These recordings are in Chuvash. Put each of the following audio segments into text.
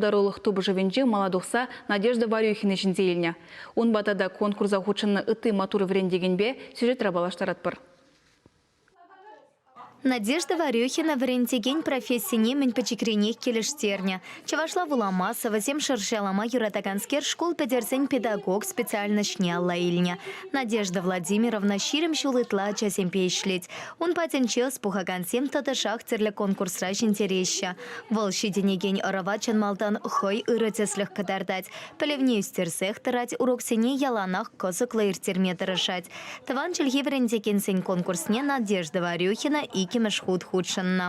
пултарулӑх тупӑшӑвӗнче мала тухса Надежда Варюхина ҫӗнсе илнӗ. Унпа тата конкурса хутшӑннӑ ытти маттур вӗрентекенпе сюжетра паллаштаратпӑр. Надежда Варюхина вӗрентекен профессине мӗн пӗчӗкренех килӗштернӗ. Чӑвашла вулама, сӑвӑсем шӑрҫалама юратаканскер шкул пӗтерсен педагог специальноҫне алла илнӗ. Надежда Владимировна ҫирӗм ҫул ытла ачасемпе ӗҫлет. Ун патӗнче ӑс пухакансем тӑтӑшах тӗрлӗ конкурсра ҫӗнтереҫҫӗ. Вӑл ҫитӗнекен ӑрӑва чӑн малтан хӑй ырӑ тӗслӗх кӑтартать, пӗлӗвне ӳстерсех тӑрать, уроксене яланах кӑсӑклӑ ирттерме тӑрӑшать. Тӑван чӗлхе вӗрентекенсен конкурсне Надежда Варюхина иккӗмӗш хут хутшӑннӑ.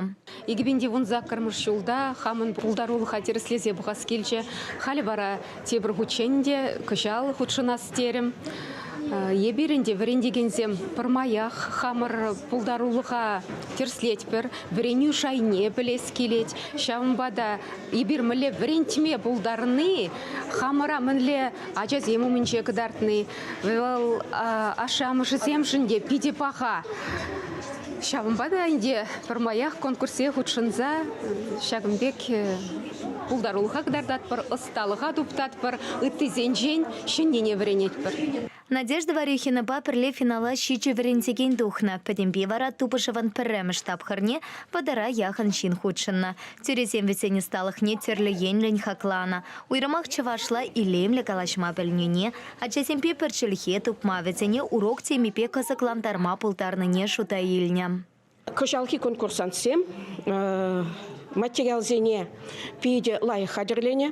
Икӗ пин те вунсаккӑрмӗш ҫулта хамӑн пултарулӑха тӗрӗслесе пӑхас килчӗ. Халӗ вара Тепӗр хутчен те кӑҫал хутшӑнас терӗм. Эпир ӗнтӗ, вӗрентекенсем, пӗрмаях хамӑр пултарулӑха тӗрӗслетпӗр, вӗренӳ шайне пӗлес килет. Ҫавӑнпа та эпир мӗнле вӗрентме пултарни, хамӑра мӗнле ачасем умӗнче кӑтартни, вӑл ашшӗ-амӑшӗсемшӗн те питӗ паха. Ҫавӑнпа та ӗнтӗ пӗрмаях конкурсе хутшӑнса ҫакӑн пек Пултарулӑха кӑтартатпӑр, ӑсталӑха туптатпӑр, ыттисенчен ҫӗннине вӗренетпӗр. Надежда Варюхинӑпа пӗрле финала ҫичӗ вӗрентекен тухнӑ. Пӗтӗмпе вара тупӑшӑвӑн пӗрремӗш тапхӑрне вӑтӑра яхӑн ҫын хутшӑннӑ. Тӳресем вӗсен ӑсталӑхне тӗрлӗ енлӗн хакланӑ. Уйрӑмах чӑвашла илемлӗ калаҫма пӗлнине, ачасемпе пӗр чӗлхе тупма, вӗсене урок темипе кӑсӑклантарма пултарнине шута илнӗ. Кӑҫалхи конкурсантсем материалсене питӗ лайӑх хатӗрленӗ.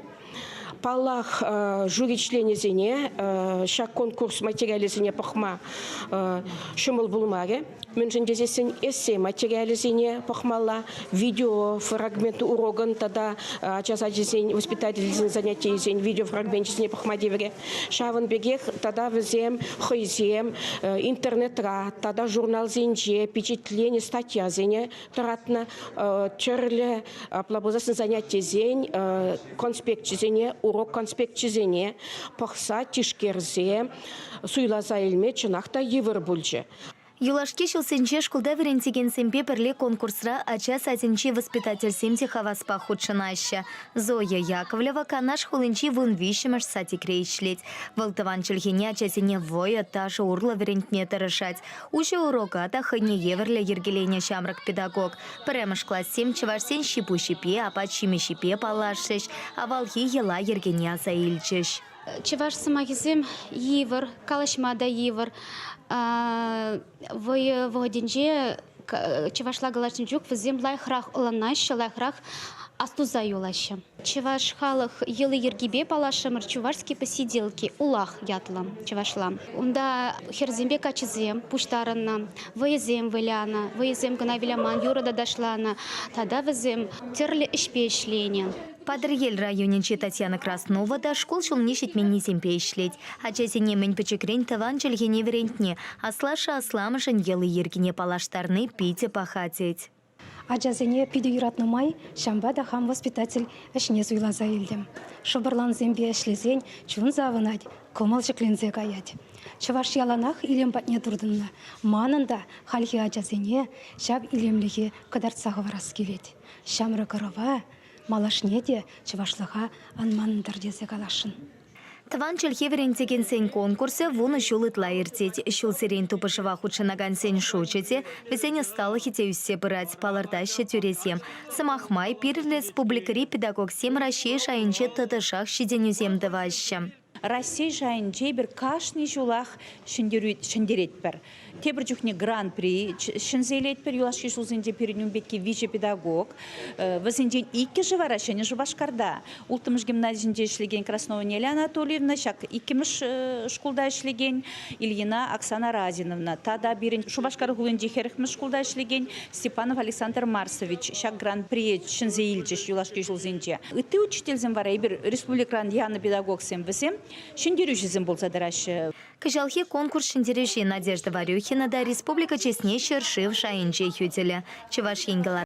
Паллах, жюри членӗсене ҫак конкурс материалӗсене пӑхма ҫӑмӑл пулмарӗ. Мӗншӗн тесессӗн эссе материалӗсене пӑхмалла, видео фрагмент урокӑн тата ача сачӗсен, воспитательсен занятийӗсен видеофрагменчӗсене пӑхма тиврӗ. Ҫавӑн пекех тата вӗсем хӑйсем интернетра тата журналсенче пичетленӗ статьясене тӑратнӑ, тӗрлӗ апла пулсассӑн занятисен конспекчӗсене, урок конспекчӗсене пӑхса, тишкерсе, суйласа илме чӑнах та йывӑр пулчӗ. Юлашки ҫулсенче шкулта вӗрентекенсемпе пӗрле конкурсра ача садӗнчи воспитательсем те хаваспах хутшӑнаҫҫӗ. Зоя Яковлева Канаш хулинчи вун виҫҫӗмӗш садикре ӗҫлет. Вӑл тӑван чӗлхене ачасене вӑйӑ, ташӑ урлӑ вӗрентме тӑрӑшать. Уҫӑ урока та хӑйне евӗрлӗ йӗркеленӗ ҫамрӑк педагог. Пӗрремӗш классем чӑвашсен ҫипуҫӗпе, апат-ҫимӗҫӗпе паллашрӗҫ, авалхи йӑла-йӗркене аса илчӗҫ. Чӑваш сӑмахӗсем йывӑр, калаҫма та йывӑр. Вӑйӑ вӑхӑтӗнче чӑвашла калаҫнӑ чух вӗсем лайӑхрах ӑнланаҫҫӗ, лайӑхрах астуса юлаҫҫӗ. Чӑваш халӑх йӑли-йӗркипе паллашрӑмӑр Чувашские посиделки улах ятлӑ чӑвашла. Унта хӗрсемпе каччӑсем пуҫтарӑннӑ, вӑйӑсем вылянӑ, вӑйӑсем кӑна выляман юрӑ тата ташланӑ. Тата вӗсем тӗрлӗ ӗҫпе ӗҫленӗ. Патӑрьел районӗнчи Татьяна Краснова та шкул ҫулне ҫитменнисемпе ӗҫлет. Ачасене мӗн пӗчӗкрен тӑван чӗлхене вӗрентни, аслашшӗ-асламӑшӗн йӑли-йӗркине паллаштарни питӗ паха тет. Ачасене питӗ юратнӑ май ҫавӑнпа та хам воспитатель ӗҫне суйласа илтӗм. Шӑпӑрлансемпе ӗҫлесен чун савӑнать, кӑмӑл ҫӗкленсе каять. Чӑваш яланах илем патне туртӑннӑ. Манӑн та хальхи ачасене ҫак илемлӗхе кӑтартса хӑварас килет. Ҫамрӑк ӑрӑва Малашне те чӑвашлӑха ан манӑнтӑр тесе каласшӑн. Тӑван чӗлхе вӗрентекенсен конкурсӗ вунӑ ҫул ытла иртет. Ҫулсерен тупӑшӑва хутшӑнакансен шучӗ те, вӗсен ӑсталӑхӗ те ӳссе пырать, палӑртаҫҫӗ тӳресем. Сӑмах май, пирӗн республикӑри педагогсем Раҫҫей шайӗнче тӑтӑшах ҫитӗнӳсем тӑваҫҫӗ. Раҫҫей шайӗнче эпир кашни ҫулах ҫӗнтеретпӗр. Тепӗр чухне гран-при ҫӗнсе илетпӗр юлашки ҫулсенче пирӗн ун пекки виҫӗ педагог. Э, вӗсенчен иккӗшӗ вара Ҫӗнӗ Шупашкарта, Улттӑмӗш гимназисенче ӗҫлекен Красновӑн Неля Анатольевна, ҫак иккӗмӗш э, шкулта ӗҫлекен Ильина Оксана Разиновна тата пирӗн Шупашкар хулинчи хӗрӗхмӗш шкулта ӗҫлекен Степанов Александр Марсович ҫак гран-прие ҫӗнсе илчӗҫ юлашки ҫулсенче. Ытти учительсем вара эпир республикӑран янӑ педагогсем вӗсем ҫӗнтерӳҫӗсем пулса тӑраҫҫӗ. Кӑҫалхи конкурс ҫӗнтерӳҫи Надежда Варюхина та республика чысне ҫӗршыв шайӗнче хӳтӗлӗ. Чӑваш Ен